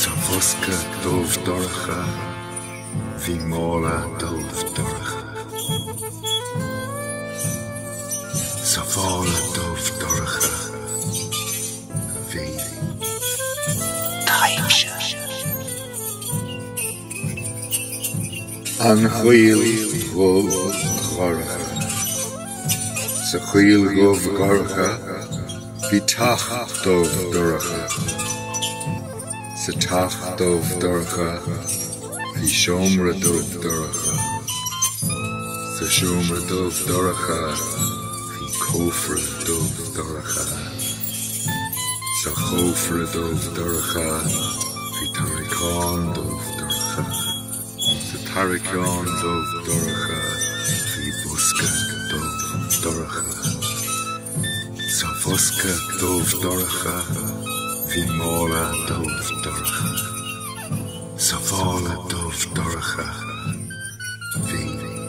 Sa bhosca dubh dorcha bhí mála dubh dorcha. Sa mhála dubh dorcha bhí taibhse. An choill dhubh dhorcha. Sa choill dhubh dhorcha Bhí teach dubh dorcha. Sa teach dubh dorcha bhí seomra dubh dorcha. Sa seomra dubh dorcha bhí cófra dubh dorcha. Sa chófra dubh dorcha bhí tarraiceán dubh dorcha. Sa tarraiceán dubh dorcha bhí bosca dubh dorcha. Sa bhosca dubh dorcha bhí mála dubh dorcha. Sa mhála dubh dorcha bhí.